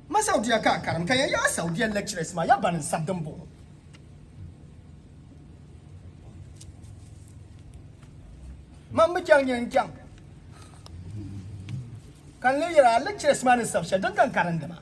Ma Saudiya ka a karim ka ya yaai Saudiya lecturers maa ya ban n-sabi din buɣi o. Man mi chaŋ nyɛ n-chaŋ ka n-leei yɛli a lecturers maa ni sabi shɛli din ka n karindi maa.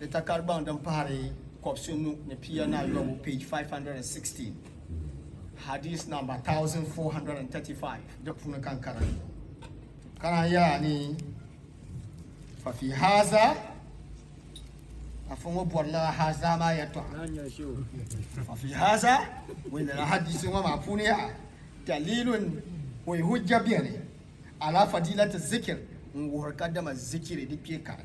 Di takari gbaŋ din pahari kɔbisi nu ni pia ni ayɔbu, page 516, hadith number 1435, di puuni ka n karan. Ka naan yɛra ni fafi haza afa ŋɔ bɔrila haza maa yɛtɔɣa fafi haza ŋun lala hadith ŋɔ maa puuni yaha dalilun o yi hujja bɛni ala fadilati zikir n wuhiri ka dama zikiri di kpee kari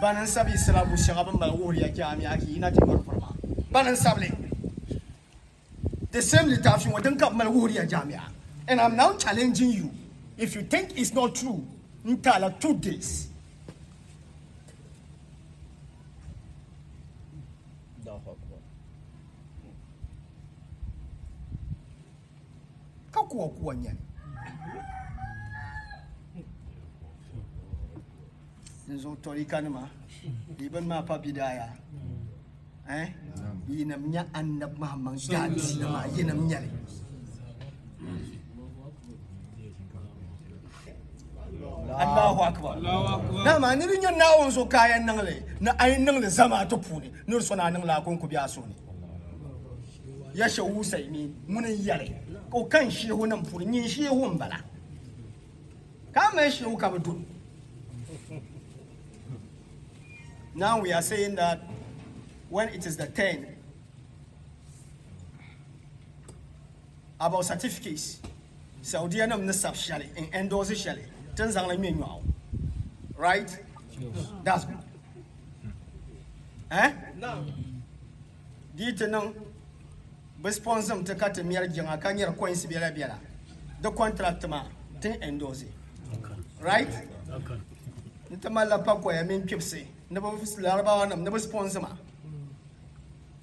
Bani n sabi yi sira bu shɛŋa bini mali wuhiri ya chɛ amia ki yi na ti nyɔri puri maa? Bani n sabi li? The same litaafi ŋɔ din ka bi mali wuhiri ya jamiya and I'm now challenging you if you think it's not true n ti a la two days. ka kuwa kuwa nyɛli n zuɣu tɔrika nima bee bin maa pa bidaaya eh? yinim nyɛ annabi mahamman gaadisi nima yinim nyɛli Allahu akbar dama ni di nyɛ naawuni so kaaya niŋli ni ayi niŋli zamaatu puuni ni di sona niŋla a konko bɛ a soni ya shɛ usaimin ŋuni n yɛli ka o kani sheehu nim puuni nyin sheehu n bala ka a mali sheehu ka bi dun now we are saying that when it is the turn about certificates saudiya nim ni sabi shɛli n endorse shɛli ti n zaŋli ŋmɛ nyɔɣu right that's good eh? Di yi ti niŋ bɛ sponzim ti ka ti mɛri jiŋa ka nyɛri coins bela bela di contract maa tin endorse right n ti malila pakoya mini kpibsi ni bɛ larabawa nim ni bɛ sponzi ma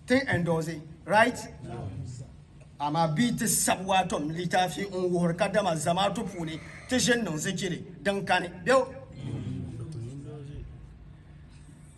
tin endorse right amaa bia ti sabi waatom litaafi n wuhiri ka dama zamaatu puuni ti ʒini niŋ zikiri din kani bɛu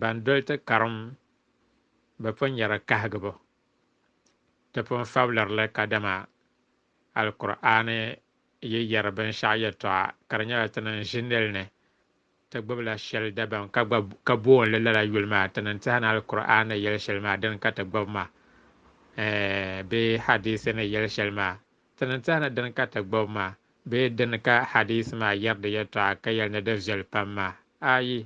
Ban doli ti karim bi pun nyɛla kahigibu. Ti pun fabilirili kadama Alkur'aani yi yɛri binshɛɣu yɛtɔɣa ka di nyɛla ti ni n-ʒi nil ni, ti gbibila shɛli dabaŋ ka gba ka boon li lala yuli maa, ti ni n-teha ni Alkur'aani ni yɛli shɛli maa dini ka ti gbibi maa, ɛɛh, bee hadiisi ni yɛli shɛli maa. Ti ni tɛhi ni dini ka ti gbubi maa bee dini ka hadiisi maa yɛri di yɛtɔɣa ka yɛli ni di viɛli pam maa? Ayi!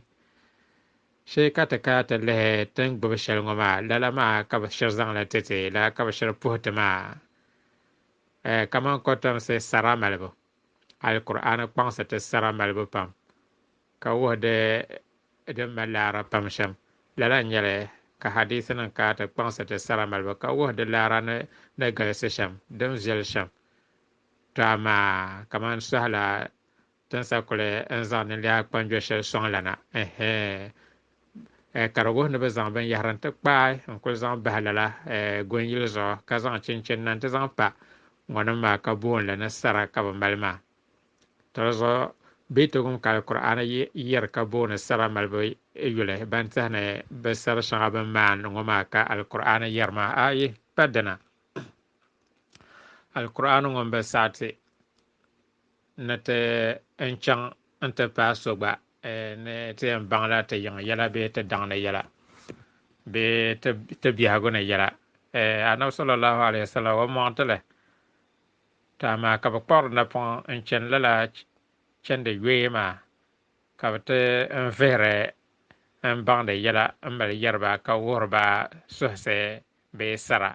Shee ka ti kana ti lihi ti ni gbubi shɛli ŋɔ maa, lala maa ka bɛ shiri zaŋ li ti ti, lala ka bɛ shiri puhi ti maa. Ɛ, kaman kɔtomsi sara malibu. Alkur'aani kpaŋsi ti sara malibu pam. ka wuhi di din mali laara pam shɛm. Lala n-nyɛli ka hadiithinim kana ti kpaŋsi ti sara malibu ka wuhi di laara ni ni galisi shɛm, din viɛli shɛm. Tɔ amaa! Kaman sɔhi la tinsa kuli ni zaŋ ninliha kpanjɔ shɛli sɔŋ la na, ɛhɛɛ! Ɛɛ, ka di wuhi ni bɛ zaŋ binyɛhiri nti kpaai n-kul zaŋ bahi lala gonyili zuɣu ka zaŋ chinchini na nti zaŋ pa ŋɔnim maa ka boon li ni sara ka bɛ mali maa. Tɔlizuɣu bɛ togum kali Kur'aana yɛri ka booni saba malibu yuli ban tihi ni bɛ sabi shɛŋa bini maani ŋɔ maa ka Alkur'aana yɛri maa a yi pa dina Alkur'aana ŋɔ m-bi saɣiti ni ti n chaŋ n-ti paai so gba ni ti yɛn baŋla ti yiŋ yɛla bee ti daŋ ni yɛla bee ti biɛhigu ni yɛla Annabi sallallahu alayhi wa sallam o mɔŋ ti li Ti amaa ka bɛ kpuɣiri napɔŋ n-chani lala chandi yoya maa, ka bɛ ti n vihiri n baŋdi yɛla m-mali yɛri ba ka wuhiri ba suhisi bee sara,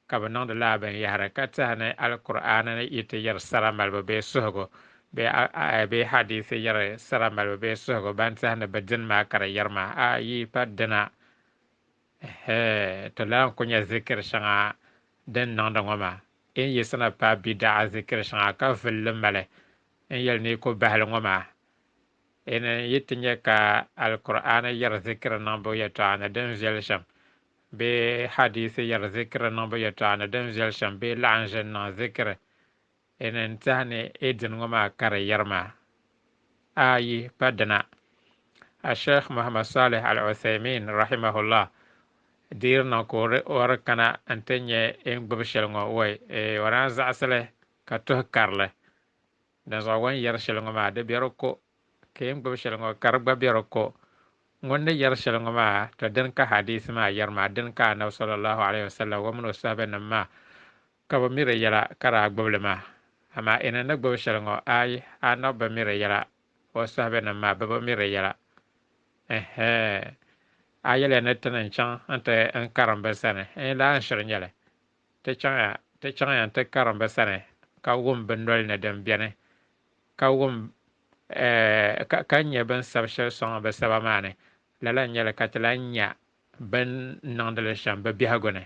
ka bɛ niŋdi lala binyɛhiri ka tɛha ni Alkur'aani yi ti yɛri sara malibu bee suhigu bee aaya bee hadiisi yɛri sara malibu bee suhigu ban tɛhindi bɛ dini maa ka di yɛri ma, A yi pa dina, Ɛhɛɛ, to lahi ku nya zikiri shɛŋa din niŋdi ŋɔ maa. N yiɣisina paai bidaɣa zikiri shɛŋa ka vuli li mali n yɛli ni yi ku bahili ŋɔ maa. N ni yi ti nya ka Alkur'aani yɛri zikiri niŋbu yɛtɔɣa ni din viɛli shɛm bee hadiisi yɛri zikiri niŋbu yɛtɔɣa ni din viɛli shɛm bee laɣinʒini niŋ zikiri N ni tehi ni e dini ŋɔ maa kari yɛri maa? A yi pa dina, Asheikh Muhammad Salih Al-Uthaymin, rahimahullah, deeri niŋ ka o di kana n-ti nya e ni gbibi shɛli ŋɔ wai, ee o daa zaɣisi li ka tuhi kari li. Dinzuɣu ŋun yɛri shɛli ŋɔ maa, di be di ko, ka e ni gbibi shɛli ŋɔ ka di gba be di ko. Ŋun ni yɛri shɛli ŋɔ maa, to dini ka hadiisi maa yɛri maa? Dini ka Annabi sallallahu alayhi wa sallam, o mini o sahabinim maa, Ka bɛ miri yɛla ka daa gbibi li maa, amaa Enon ni gbibi shɛli ŋɔ, aai, Anɔb bi miri yɛla, o sahabɛnim maa bɛ bi miri yɛla. Ɛhɛɛ! A yɛliya ni ti ni n-chaŋ nti n karim bɛ sani, n yi lahi shiri nyɛli, ti chaŋya, ti chaŋya nti karim bɛ sani ka wum bɛ noli ni din beni, ka wum, ɛɛh, ka nya bɛ ni sabi shɛli sɔŋ bɛ saba maa ni, lala n-nyɛ li ka ti lahi nya Bɛ ni niŋdi li shɛm bɛ biɛhigu ni,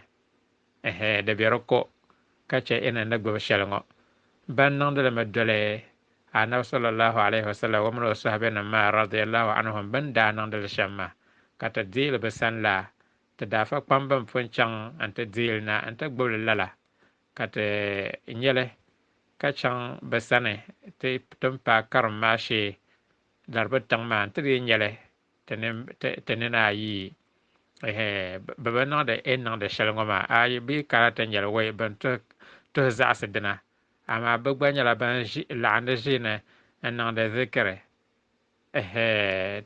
ɛhɛ, di be di ko ka chɛ inna ni gbibi shɛli ŋɔ. Bɛ ni niŋdi li mi doli Annabi sallallahu alayhi wa sallam o mini o sɔhibɛnim maa radiyallahu anhum bɛ ni daa niŋdi li shɛm maa, ka ti deei li bɛ sani la, ti daa fa kpaŋ bɛn pun chaŋ nti deei li na nti gbibi li lala, ka ti nya li ka chaŋ bɛ sani ti tin paai karim maa shee Laribu tiŋ maa nti lee nya li ti nini ayi bɛ bi niŋdi e ni niŋdi shɛli ŋɔ maa ayi bɛ kana ti nyɛli wei bɛn tuhi zaɣisi dina amaa bɛ gba nyɛla ban laɣindi ʒiini n-niŋdi zikiri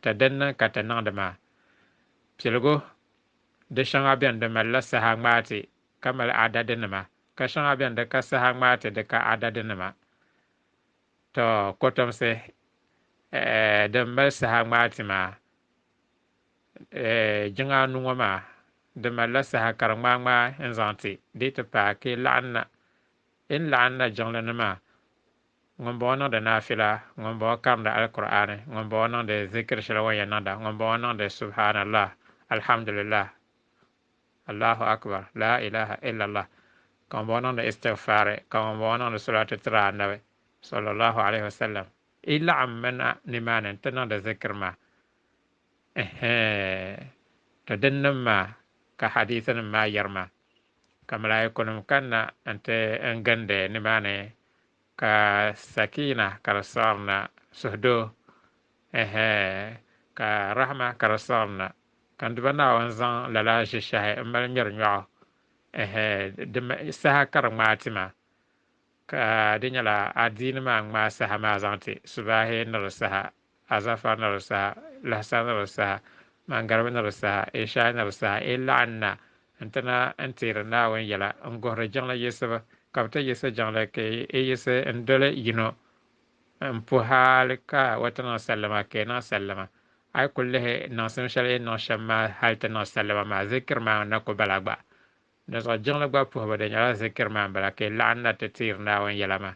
ti din niŋ ka ti niŋdi maa piligu di shɛŋa beni di malila saha ŋmaati ka mali adadinima ka shɛŋa beni di ka saha ŋmaati di ka adadinima Tɔ! Kotomsi eh, din mali saha ŋmaai ti maa eh, jiŋa anu ŋɔ maa, di malila saha ka di ŋmaai ŋmaai n-zaŋ ti di ti paai ka yi laɣim na. Yi ni laɣim na jiŋli ni maa, ŋumbɔŋɔ niŋdi naafila, ŋumbɔŋɔ karimdi Alkur'aani, ŋumbɔŋɔ niŋdi zikiri shɛli o ni yɛn niŋda, ŋumbɔŋɔ niŋdi Subhaanallah, Alhamdulillah, Allahu Akbar, Laa ilaha illallah, ka ŋun bɔŋɔ niŋdi istighfaari, ka ŋun bɔŋɔ niŋdi solaatu tiri Annabi, sallallahu alayhi wa sallam, yi laɣim mi na nimaani nti niŋdi zikiri maa. Ɛhɛɛn! To dinnim maa ka hadiisinim maa yiri ma, ka malaaikunim kanna nti n gindi nimaani Ka Sakina ka di siɣiri na, suhudoo, ɛhɛ, ka Rahma ka di siɣiri na. Ka Nduba Naawuni zaŋ lala ʒishɛhi m-mali ŋmɛri nyɔɣu, ɛhɛ, di ma saha ka di ŋmaai ti ma, ka di nyɛla adiini maa ŋmaai saha maa zaŋ ti, subaahi ni di saha, Azafar ni di saha, Lahasar ni di saha, Maŋgaribi ni di saha, Ishaai ni di saha, yi laɣim na nti na n-teeri Naawuni yɛla n-guhiri jiŋli yiɣisibu, ka bɛ ti yiɣisi jiŋli ka yi yiɣisi n-doli yino m-puhi hali ka o ti niŋ sallama ka yi niŋ sallama. A yi kul lihi niŋsim shɛli yi ni niŋ shɛm maa hali ti niŋ sallama maa, zikiri maa n-na ku bala gba. Dinzuɣu jiŋli gba puhibu di nyɛla zikiri maa m-bala ka yi laɣim na ti teeri Naawuni yɛla maa.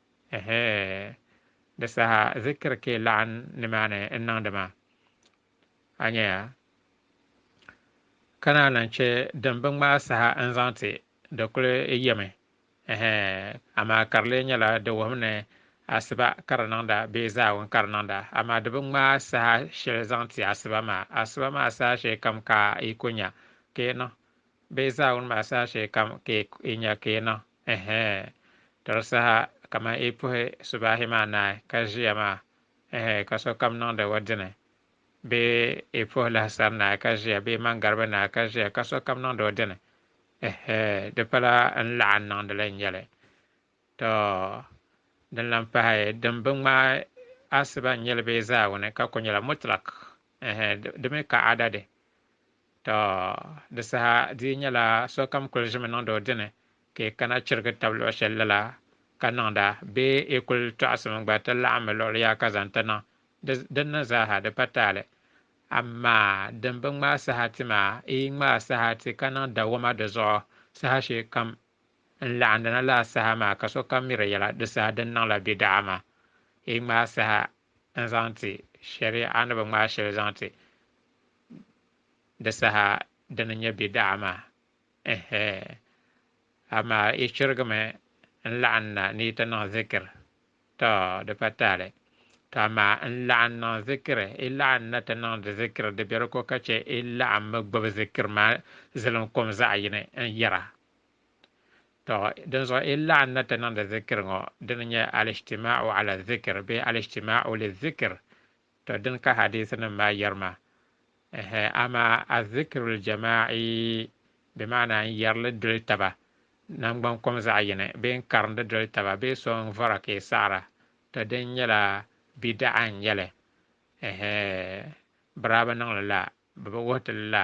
Ɛhɛɛn, di saha zikiri ka yi laɣim nimaani n-niŋdi maa. A nya ya? Ka naa lan chɛ din bi ŋmaai saha n-zaŋ ti, di kul yɛmi. Ɛhɛɛn, amaa ka di lee nyɛla di wuhim ni asiba ka di niŋda bee zaawun ka di niŋda, amaa di bi ŋmaai saha shɛli zaŋ ti asiba maa. Asiba maa saha shee kam ka yi ku nya ka yi niŋ. Bee zaa ŋun mahi saha shee kam ka i nya ka i niŋ? Ɛhɛɛ. Tɔri saha kamani yi puhi subaahi maa naai ka ʒiya maa, ɛhɛɛ, ka sokam niŋdi o dini. Bee yi puhi lahisari naai ka ʒiya bee maŋgariba naai ka ʒiya ka sokam niŋdi o dini? Ɛhɛɛ, di pala n laɣim niŋdi li n-nyɛ li. Tɔ! Din lan pahi din bi ŋmaai asiba n-nyɛ li bee zaa ŋuni ka ku nyɛla mutlaq, ɛhɛɛ, di mi ka adadi. Tɔ! Di saha di yi nyɛla sokam kul ʒimi niŋdi o dini ka yi kana chirigi tab luɣ shɛli lala ka niŋda bee yi kul tɔɣisimi gba ti laɣimmi luɣili yaha ka zaŋ ti niŋ di dinni zaaha di pa taali. Amaa din bi ŋmaai saha ti maa, yi yi ŋmaai saha ti ka niŋ dawoma di zuɣu saha shee kam n laɣindina lala saha maa ka sokam mi di yɛla di saha din niŋla bidaɣa maa. Yi ŋmaai saha n zaŋ ti shari'a ni bi ŋmaai shɛli zaŋ ti di saha din n nyɛ bida'a maa ɛhɛ amaa yi chirigimi n laɣim na ni yi ti niŋ zikiri tɔ di pa taali tɔ amaa n laɣim niŋ zikiri yi laɣim na ti niŋdi zikiri di biɛri ko ka chɛ yi laɣimmi gbubi zikiri maa zilim kom zaɣ yini n yɛra Tɔ! Dinzuɣu yi laɣim na ti niŋdi zikiri ŋɔ, dini n-nyɛ al-ijtimaa'u 'ala zikr bee al-ijtimaa'u liz-zikr, tɔ dini ka hadiisinim maa yɛri ma. Ɛhɛ, amaa az-zikrul jamaa'i bɛ maana n yɛrili doli taba nangban kom zaɣ yini bee n karindi doli taba bee so n vɔra ka yi saɣira, tɔ dini nyɛla bida'a n nyɛli. Ɛhɛ, bɛ daa bi niŋ li la, bɛ bi wuhi ti li la.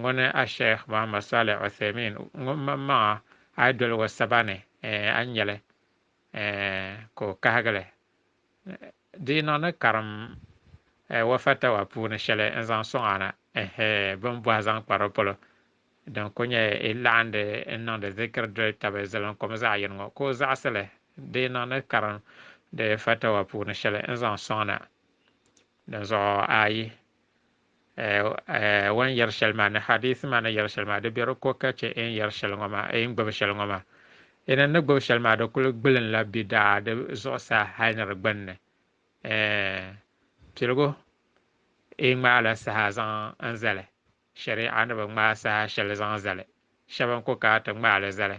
Ŋuni Asheikh Muhammad Saleh Uthaymin ŋun maŋ maŋa a yi doli o saba ni a ni nyɛli ka o kahigili di yi niŋ ni karim o fatawa puuni shɛli n-zaŋ sɔŋ a na bini bɔhi zaŋ kpa di polo din ku nyɛ yi laɣindi n-niŋdi zikiri doli tabi zilim kom zaɣ yini ŋɔ ka o zaɣisi li di yi niŋ ni karim di fatawa puuni shɛli n-zaŋ sɔŋ na dinzuɣu a yi O ni yɛri shɛli maa ni hadiisi maa ni yɛri shɛli maa di be di ko ka chɛ e ni yɛri shɛli ŋɔ maa, e ni gbibi shɛli ŋɔ maa. E ni ni gbibi shɛli maa di kul gbilinla bidaa di zuɣusaa hal ni di gbinni. Piligu, E ŋmaala saha zaŋ n zali, shɛri'a ni bi ŋmaai saha shɛli zaŋ zali. Shɛba n-ku ka ti ŋmaali zali,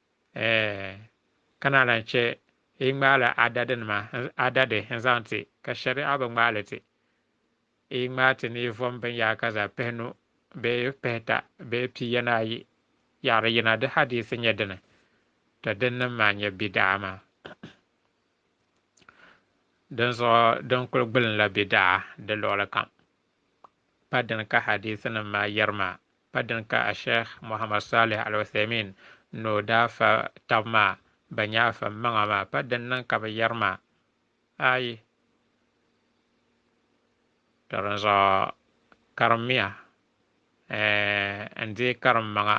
Ɛɛn, ka naa lan chɛ yi ŋmaala adadinima, adadi, n-zaŋ ti, ka shɛri'a bi ŋmaai li ti yi, ŋmaai ti ni yi vom binyaka zaa pihinu bee pihita bee pi yana ayi yaɣiri yina, di hadiisi nyɛ dini, tɔ dinnim maa nyɛ bida'a maa. Dinzuɣu din kul gbilinla bida'a di luɣili kam. pa dini ka hadiithinim maa yɛri maa, pa dini ka Ashɛih Muhammad Saalih Al-Uthaimin ni o daa fa tab maa bɛn nyɛ afa m-maŋa maa, pa dini niŋ ka bɛ yɛri maa, Ayi! Tɔ dinzuɣu karimmiya n deei karimmaŋa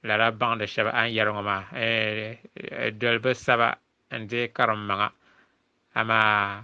lala baŋdi shɛba a ni yɛri ŋɔ maa, dolibi saba n deei karimmaŋa, amaa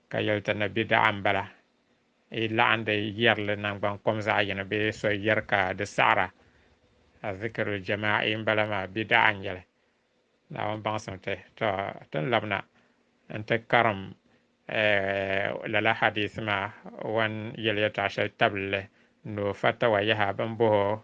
Ka yɛli ti ni bidaɣa m-bala, yi laɣim di yɛrili naŋgban kom zaɣ yini bee so yɛri ka di saɣira, Azikirul Jamaa'i m-bala maa, bidaɣa n-nyɛ li. Naawuni baŋsim ti, tɔ! Ti ni labina nti karim lala hadiisi maa wan yɛliyɛtɔɣ shɛli tabili li ni o fatawa yaha bɛn bohi o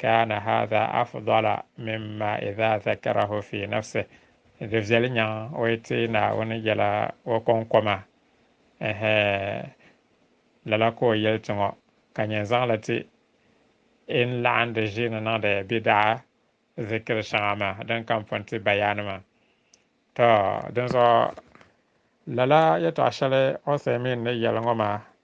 Kaana haadha afdala mimma idha dhakarahu fi nafsihi, di viɛli nyaŋ o yi ti Naawuni yɛla o kɔŋko maa, ɛhɛ, lala ka o yɛli ti ŋɔ, ka nyɛ n-zaŋ li ti e ni laɣim di ʒiini niŋdi bidaa zikiri shɛŋa maa din kam pun ti bayaani maa. Tɔ! Dinzuɣu lala yɛtɔɣ shɛli Uthaymin ni yɛli ŋɔ maa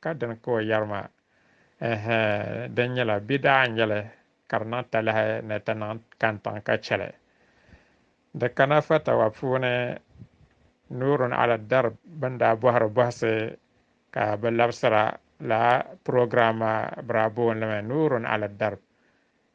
Ka dini ka o yɛri ma? Ɛɛh, di nyɛla bɛ daa nyɛ li ka di niŋ talahi ni ti niŋ kantaŋ ka chɛ li. Di kana fatawa puuni Nurun Ali Darb bɛn daa bɔhiri bɔhisi ka bɛ labisira laa program maa bɛ daa booni li mi Nurun Ali Darb.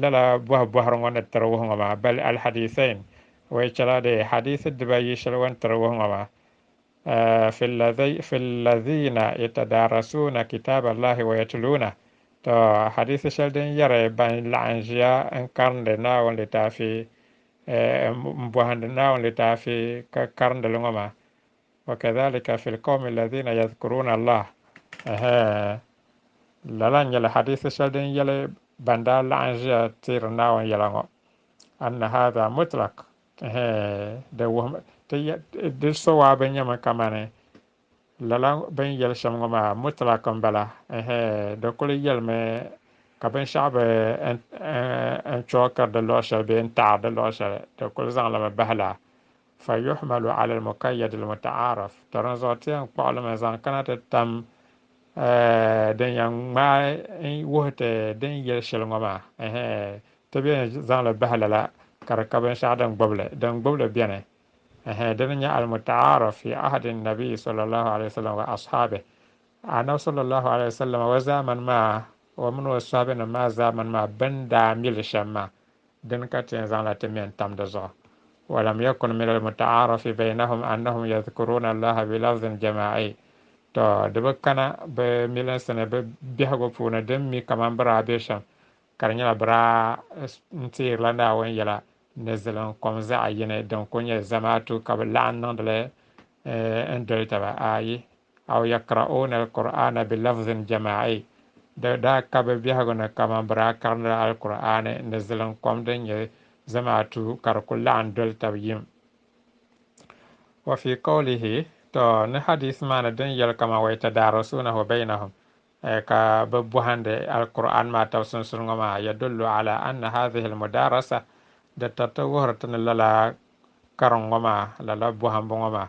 Lala bɔhi bɔhiri ŋɔ ni tiri wuhi ŋɔ maa, bal alhadiisain, o yi chɛla dee, hadiisi dibayi shɛli o ni tiri wuhi ŋɔ maa, eh, fi llazina yatadaarasuuna kitaaballahi wa yatluunah, tɔ, hadiisi shɛli din yɛri ban laɣim ʒiya n-karindi Naawuni litaafi, eh, m-bɔhindi Naawuni litaafi ka karindi li ŋɔ maa, Wa kadhalika fil qawmi alladhina yadhkuruna Allah. Ɛhɛ. Lala n-nyɛla hadiisi shɛli din yɛli ban daa laɣim ʒiya teeri Naawuni yɛla ŋɔ. Anna hadha mutlaq. Ɛhɛ. Di wuhim, ti ya, di sowaa bi nyɛmi kamani lala bini yɛli shɛm ŋɔ maa mutlaq m-bala. Ɛhɛ. Di kuli yɛlimi ka binshɛɣu bi n, n, n chɔɣikiri di luɣ shɛli bee n-taɣiri di luɣ shɛli. Di kuli zaŋlimi bahi la. fa yuhmalu ala almukayyad almuta'araf to dinzuɣu ti yɛn kpuɣi limi zaŋ kana ti tam din yɛn ŋmaai n wuhi ti din yɛli shɛli ŋɔ maa ti bɛ yɛn zaŋli bahi lala ka di ka binshɛɣu din gbubili din gbubili bɛni dini nyɛ almuta'araf fi ahadi nabi sallallahu alaihi wasallam wa ashabi anabi sallallahu alaihi wasallam wa zamani maa wa mini o sahabi nim maa zamani maa bin daa mili shɛm maa Dini ka ti yɛn zaŋla ti mɛn tam di zuɣu? Walam yakun min almutaarafi baynahum annahum yadhkuruuna Allaha bilafdhin jamaa'i. Tɔ! Di bi kana bɛ milinsi ni bɛ biɛhigu puuni din mi kaman bɛ daa be shɛm, ka di nyɛla bɛ daa n-teerila Naawuni yɛla ni zilin kom zaɣ yini din kul nyɛ zamaatu ka bɛ laɣim niŋdi li n-doli taba. Ayi. Aw yaqra'uuna al-Qur'aana bi lafzin jamaa'i, di daa ka bɛ biɛhigu ni kaman bɛ daa karindila Alkur'aani ni ziliŋ kom din nyɛ zamaatu ka di kul laɣim doli tab yim. Wa fii qawlihi, tɔ! Ni hadiisi maa ni din yɛli kaman wa yatadaarasuunahu baynahum, ka bɛ bɔhindi Alkur'aani maa tab sunsuni ŋɔ maa, yadullu alaa anna haadhihi al-mudaarasa, di tiriti wuhiri ti ni lala karin ŋɔ maa, lala bɔhimbu ŋɔ maa,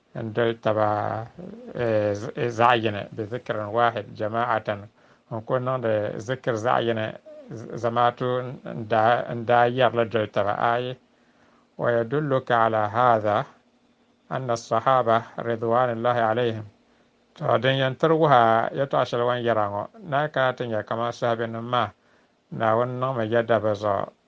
n doli taba zaɣ yini, bi zikrin waahid jamaatan, n kul niŋdi zikir zaɣ yini zamaatu n daa yɛri li doli taba ayi. Wa yadulluka ala haadha anna as-sahaaba ridwaanullahi alayhim, tɔ din yɛn tiri wuhi a yɛtɔɣa shɛli wan yɛra ŋɔ, ni a kana ti nya kaman sahabinim maa, Naawuni niŋmi yɛda bɛ zuɣu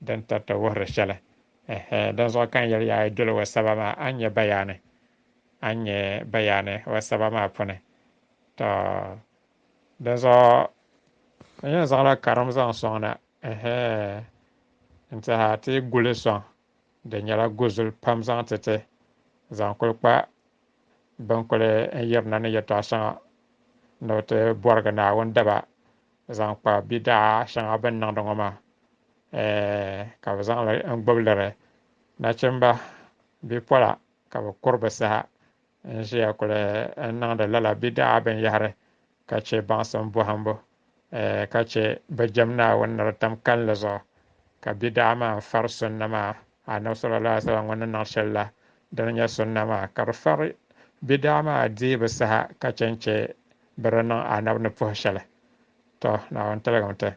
din tarita wuhiri shɛli. Ɛhɛ, dinzuɣu ka n yɛli ya a yi doli wasaba maa, a ni nya bayaani. A ni nya bayaani wasaba maa puuni. Tɔ! Dinzuɣu n yɛn zaŋla karim zaŋ sɔŋ na, ɛhɛ, n-tiɛha ti yi gu li sɔŋ, di nyɛla guzuli pam zaŋ ti ti, zaŋ kuli kpa bɛn kuli n yirina ni yɛtɔɣ shɛŋa ni o ti bɔrigi Naawuni daba zaŋ kpa bidaa shɛŋa bɛ ni niŋdi ŋɔ maa, ɛɛh, ka bɛ zaŋ li n-gbubi liri nachimba bipola ka bɛ kuri bɛ saha n-ʒiya kuli n-niŋdi lala bidaa binyɛhiri ka chɛ baŋsim bɔhimbu, ɛɛh, ka chɛ bɛ jɛm Naawuni ni di tam kalinli zuɣu, ka bidaa maa n-fari sunna maa. Anabi sallallahu alaihi wasallam ŋun ni niŋ sheli la dini nyɛ sunna maa ka di fari bidaa maa diibu saha ka che n che bɛ di niŋ Anabi ni puhi sheli. To, Naawuni tiligim ti.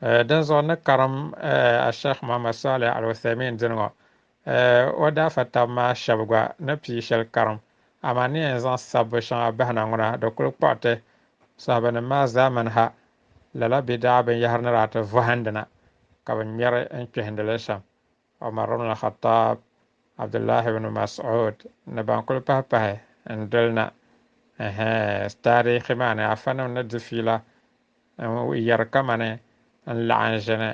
Eh, dinzuɣu n ni karim eh, Ashekh Muhammad Salih Al-Uthaymin dini ŋɔ eh, o daafa tabi maa sheba gba ni pii sheli karim. Amaa n ni yɛn zaŋ sabbu sheŋa bahi na ŋuna di kuli kpuɣi ti sahabanim maa zaamani ha Lala bɛ daa binyɛhiri ni daa ti vɔhindi na ka bɛ ŋmɛri n-kpihindi li shɛm. Umar ibn al-Khattab, Abdullahi ibn Mas'ud ni ban kuli pahi pahi n-doli na. Ɛhɛ! Taarihi maa ni afanima ni di fiila n-yɛri kamani n laɣim ʒini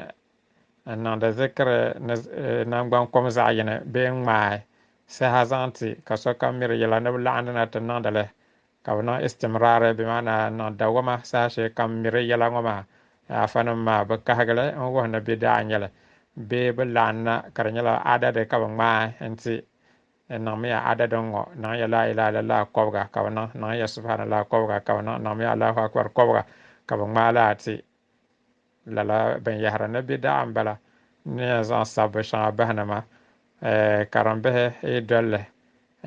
n-niŋdi zikiri ni nangban kom zaɣ yini bee n-ŋmaai saha zaŋ ti ka sokam miri yɛla ni bɛ laɣindi na ti niŋdi li Ka bɛ niŋ istimraari, bɛ maana niŋ dawɔma saha shee kam miri yɛla ŋɔ maa, afanima maa bi kahigi li n-wuhi ni bɛ daa nya li bee bɛ lahi na ka di nyɛla adadi ka bɛ ŋmaai n-ti. N niŋmiya adadi n-ŋɔ, niŋya Laa ilaha illallah kɔbiga ka bɛ niŋ, niŋya Subhanallah kɔbiga ka bɛ niŋ, niŋmiya Allahu Akbar kɔbiga ka bɛ ŋmaai li a ti. Lala binyɛhiri ni be daɣu m-bala ni yɛn zaŋ sabbu shɛŋa bahi ni ma karimbihi yi doli li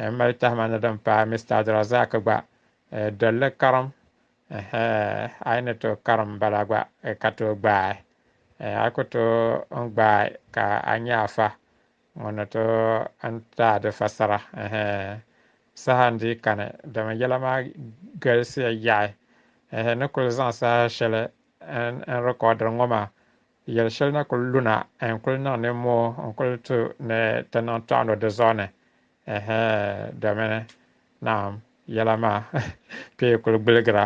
n mali tahima ni din paai Mister Abdulrazak gba doli li karim ɛhɛɛh a yi ni tooi karim m-bala gba ka tooi gbaai a yi ku tooi n-gbaai ka a nya a fa Ŋɔ ni to n taai di fasara ɛhɛ saha n dii kani, dama yɛla maa galisiya yaɣi ɛhɛ ni kuli zaŋ saha shɛli n n rikɔɔdiri ŋɔ maa. Yɛli shɛli na kuli luna n kuli niŋ nimmoo n kuli tu ni ti niŋ tɔɣino di zuɣu ni ɛhɛ domin naam yɛla maa pee kuli gbiligira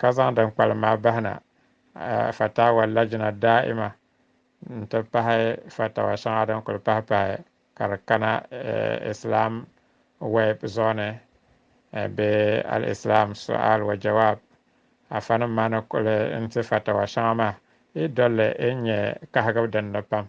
ka zaŋ din kpalim maa bahi na, Fatawa Lajna Da'ima n-ti pahi fatawa shɛŋa din kuli pahi pahi ka di kana Islam Web zuɣu ni bee Al-Islam Su'al wa Jawab. Afanim maa ni kuli n-ti fatawa shɛŋa maa, yi dol li yi ni nyɛ kahigibu din ni pam,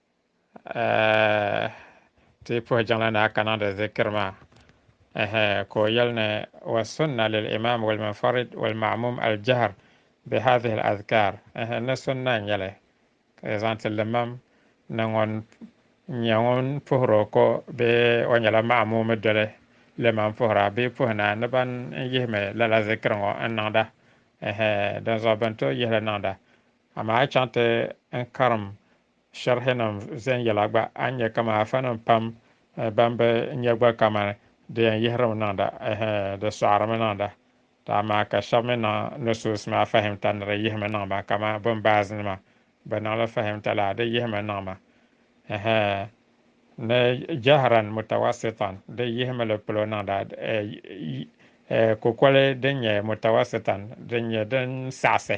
Ti yi puhi jiŋli ni a ka niŋdi zikiri maa, ɛhɛ, ka o yɛli ni, wa sunna lil imaam wal munfarid wal ma'muum al jahr bi haadhihi al adhkaar, ɛhɛ, ni sunna n nyɛli ka zaŋ ti limam ni ŋun nyɛ ŋun puhiri o ko bee o nyɛla ma'muumi doli limam puhira bee puhi na ni ban n yihimi lala zikiri ŋɔ n niŋda, ɛhɛ, dinzuɣu bɛn tooi yihi li niŋda. Amaa a chaŋ ti n karim shɛrihinim viɛnyɛla gba, a ni nya kaman afanim pam bɛn bi nya gba kaman di yɛn yihirimi niŋda, ɛhɛ, di sɔɣirimi niŋda. Tɔ amaa ka shɛba mi niŋ nusuus maa fahimta ni di yihimi niŋ ma, kaman Bin Baaz nima bɛ niŋ li fahimta la, di yihimi niŋ ma, ɛhɛ, ni jahran mutawassitan, di yihimi li polo niŋda, ɛɛ, kukoli din nyɛ mutawassitan, din nyɛ din saɣisi.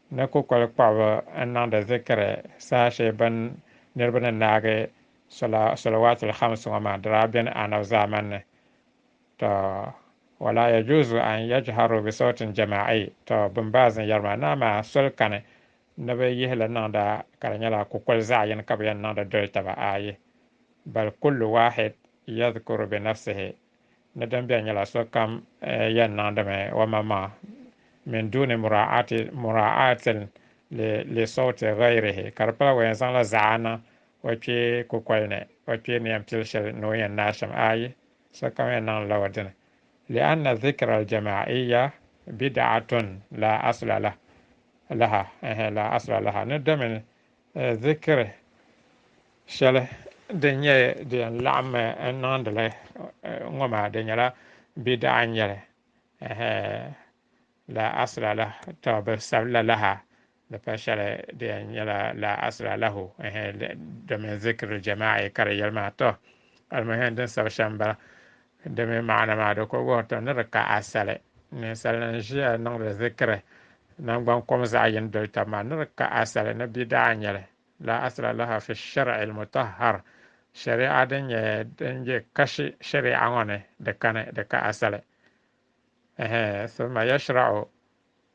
Ni kukoli kpɔɣiba n-niŋdi zikiri saha shee bɛn niriba ni naagi sɔla Salawaatul Khams ŋɔ maa di daa beni Anabi zaamani ni. Tɔ! Wa laa yajuuzu an yajharuu bi sawtin jamaa'i, tɔ! Bin Baaz ni yɛri maa, ni amaa soli kani ni bɛ yihi li niŋda ka di nyɛla kukoli zaɣ yini ka bɛ yɛn niŋdi doli taba, ayi, bal kullu waahid yadhkuru bi nafsihi, Ni din beni nyɛla sokam yɛn niŋdimi omaŋmaŋ min duuni mura'ati mura'atin li li sawti ghayrihi ka di pala o yɛn zaŋla zaɣa niŋ o kpee kukoli ni o kpee ni yɛn pili shɛli ni o yɛn naai shɛm ayi sokam yɛn niŋdila o dini li'anna dhikra al-jama'iyya bid'atun la asla lah laha ɛhɛ la asla laha ni domin Zikiri shɛli din nyɛ di yɛn laɣim n niŋdi li ŋɔ maa di nyɛla bidaa n nyɛli la asla la tɔbu bi sabi la laha di pa shɛli di yɛn nyɛla la asla lahu domin zikiri jamaaɛ ka di yɛli maa tɔ alimuhim din sabi shɛm bala Di mi maana maa di ku wuhiri ti ni di ka asali ninsalinim ʒiya niŋdi zikiri nangban kom zaɣ yini doli tab maa ni di ka asali ni bi daa nya li. Laa asla laha fi shari'i l-mutahhar, shari'a din nyɛ din be kashi shari'a ŋɔ ni di kani, di ka asali. Ɛhɛɛ, thumma yashra'u.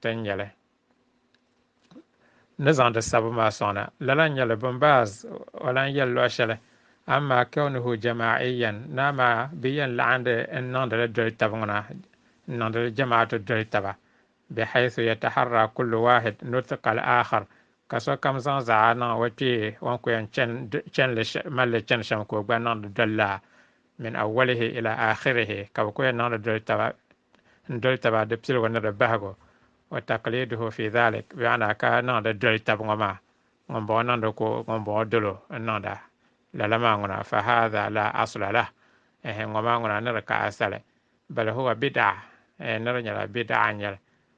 ti ni nyɛli ni zaŋdi sabu maa sɔŋna lala nyɛli bin baaz o lan yɛli luɣ shɛli amaa kawnuhu jamaa'iyan naa maa bɛ yɛn laɣindi n niŋdi li doli tabi ŋuna n niŋdi li jamaatu doli taba bihaythu yataharra kullu waahid nutqa al-aakhar ka sokam zaŋ zaɣa niŋ o kpee o ni ku yɛn chɛnli malli chɛni shɛm ka o gba niŋdi doli laa min awwalihi ila aakhirihi ka bɛ ku yɛn niŋdi doli taba n doli taba di piligu ni di bahigu wa takliduhu fi dhalik bɛ ana ka niŋdi doli tab ŋɔ maa ŋun bɔŋɔ niŋdi ko ŋun bɔŋɔ dolo n niŋda lala maa ŋuna fa hadha la asla lah ehe ŋɔ maa ŋuna ni di ka asali bal huwa bid'a ehe ni di nyɛla bid'a n nyɛli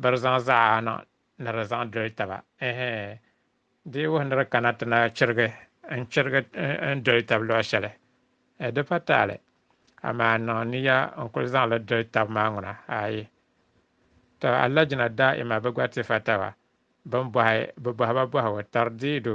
Bɛ di zaŋ zaɣana ni di zaŋ doli taba. Ɛhɛ! Di yi wuhi ni di kana ti na chirigi n-chirigi n-doli tab luɣ shɛli? Ɛɛ, di pa taali. Amaa niŋ niya n-kul zaŋ li doli tab maa ŋuna? Aai! Tɔ! Alajina daa'ima bi gba ti fa taba. Bɛ ni bɔhi bɛ bɔhiba bɔhigu tari diidu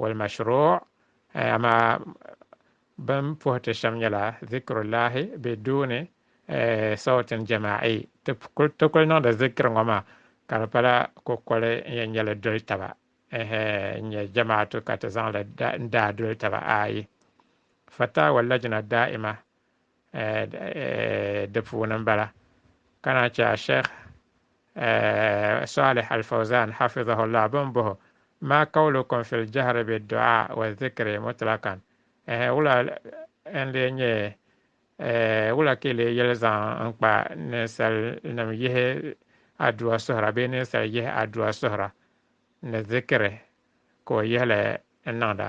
Walmashruu, amaa bɛn puhi ti shɛm nyɛla Zikrullahi bɛ duuni sawtin jamaa'i, ti kul niŋdi zikiri ŋɔ maa ka di pala kukoli n yɛn nyɛ li doli taba, ɛhɛ n nyɛ jamaatu ka ti zaŋ li n daai doli taba ayi. Fatawa Lajna Daa'ima di puuni m-bala ka na chɛ a Sheikh Salih Al-Fawzan hafidhahullah bɛ ni bɔh o, Ma qawlukum fil jahri bid-du'a wa dhikri mutlaqan, Ɛɛh, wula n-lee nyɛ, wula ka yi lee yɛli zaŋ n-kpa ninsalinim yihi adua suhira bee ninsal yihi adua suhira ni dhikri ka o yihi li n-niŋda?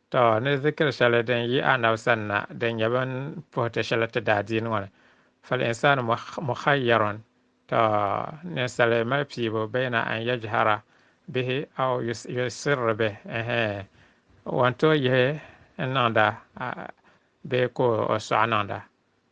Tɔ! Ni zikiri shɛli din yi Annabi sani na din nyɛ bɛn puhi ti shɛli ti daa diin ŋɔ ni, Fal insaanu mukhayyaron, Tɔ! Ninsali mali piibu bayna an yajhara bihi aw yusirri bih, ɛhɛɛ, o ni tooi yihi n niŋda bee ka o sɔɣi niŋda.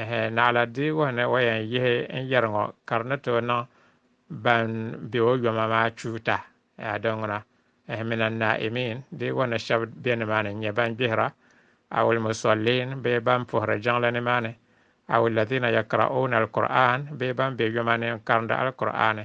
Ɛhɛ, naɣila diigu ni o yɛn yihi n yɛri ŋɔ ka di ni tooi niŋ ban be o yoma maa chuuta. Ɛhɛ, di ŋuna, ɛhɛ, min a Naaimin diigu ni shɛb be nimaani n-nyɛ ban gbihira, awil Musolliin bee ban puhiri jiŋli nimaani, awil Ladhiina Yakra'uuna Al-Kur'aan bee ban be yoma ni n-karindi Alkur'aani.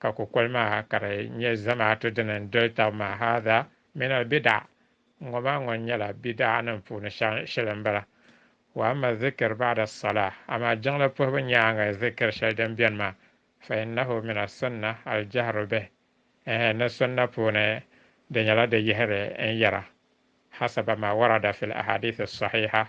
Ka kukoli maa ka di nyɛ zamaatu dini n doli tab maa, Haadha min al bidaa, ŋɔ maa ŋɔ nyɛla bidaa nim puuni shɛli n bala, Wa amma zikir ba'da as-salah, amaa jiŋli puhibu nyaaŋa zikir shɛli din beni maa, Fa innahu min as-sunna al-jahru bih, ɛɛh ni sunna puuni di nyɛla di yihiri n yɛra, Hasaba ma warada fil ahadith as-sahiha,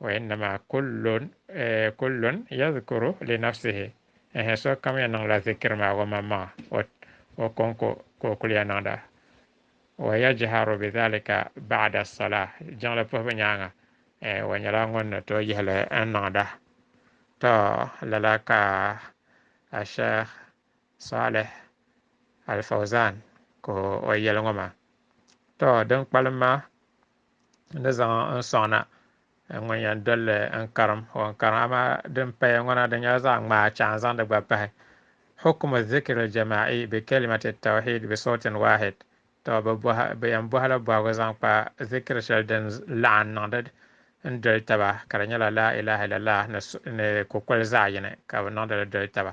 Wa innama kullun eh, kullun yadhkuru li nafsihi eh, sokam ya niŋla zikiri maa o maŋmaŋa, o, o konko ka o kuliya niŋda. Wa yajharu bi dhalika ba'da salah, jiŋli puhibu nyaaŋa eh, o nyɛla ŋun ni tooi yihi li n niŋda. To, lala ka a Shaykh Salih Al-Fawzan ka o yɛli ŋɔ maa. To, din kpalim maa ni zaŋ n sɔŋna ŋun yɛn dolli n karim o n karim amaa din paya ŋɔ na di nyɛla zaɣ ŋmaa chɛ a ni zaŋdi gba pahi hukumu zikiri jama'i bi kalimati tawhid bi sawtin wahid tɔ bi yɛn bɔhila bɔhigu zaŋ kpa zikiri shɛli din laɣim niŋdi n doli taba ka di nyɛla laa ilaha illallah ni kukoli zaɣ yini ka bi niŋdi li doli taba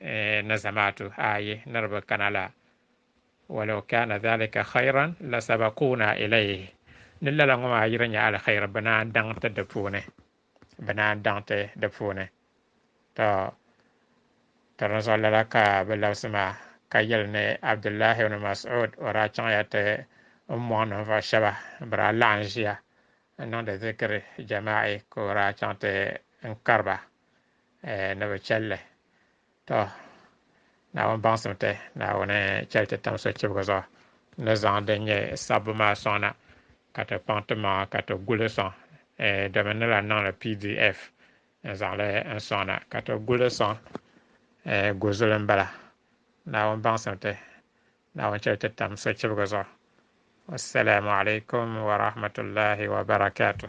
Eh, na zamaatu ayi niriba kana la, walau kana dhalika khayran la sabaquuna ilayhi, ni lala ŋɔ maa yiri nyɛ alkhairi bɛ naan daŋ ti di puuni, bɛ naan daŋ ti di puuni. Tɔ! Tɔ dinzuɣu lala ka bɛ labisi ma, ka yɛli ni Abdullahi ibn Mas'ud o daa chaŋya ti ummɔŋ ninvuɣu shɛba bɛ daa laɣim ʒiya n-niŋdi zikiri jamaa'i ka o daa chaŋ ti n kari ba eh, ni bi chɛli li. To, Naawuni baŋsim ti, Naawuni chɛli ti tam sochibigi zuɣu, ti ni zaŋ din nyɛ sabbu maa sɔŋ na, ka ti kpaŋ ti maŋa ka ti gu li sɔŋ, eh, domin ni lan niŋ li pdf n-zaŋ li n-sɔŋ na, ka ti gu li sɔŋ, eh, gu zuli m-bala. Naawuni baŋsim ti, Naawuni chɛli ti tam sochibigi zuɣu. Wassalamu alaikum wa rahmatullahi wa barakatuh.